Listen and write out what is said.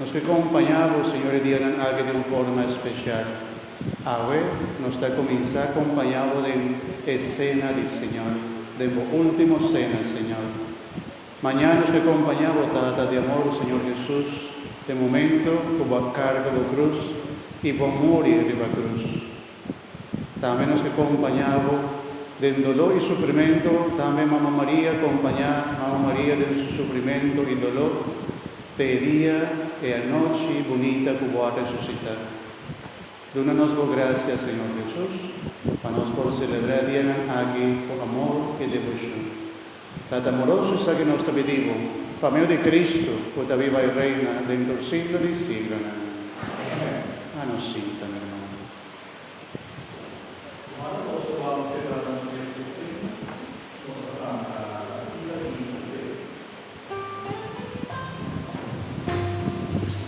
Nos ke kompañá bo, Señor, e dianan aki den un forma espeshal. Awe nos ta kuminsá kompañá bo den e sena di Señor, den bo último sena, Señor. Mañá nos ke kompañá bo, Tata di amor, Señor Hesus, e momento ku bo a karga bo krus i bo a muri riba krus. Tambe nos ke kompañá bo den doló i sufrimentu, tambe Mama Maria kompañá Mama Maria den su sufrimentu i doló te e dia, e anochi bunita ku bo a resusitá. Duna nos bo grasia, Señor Hesus, pa nos por selebrá dianan aki ku amor i devoshon. Tata amoroso, esaki ku nos ta pidi Bo, pa medio di Kristu, Bo ta biba i reina den tur siglo di siglonan. Amen. A nos sinta, mi ermano. Humano nos lo wou kebra nos mes ku fin, nos ta tanta atinta di hin ku fe.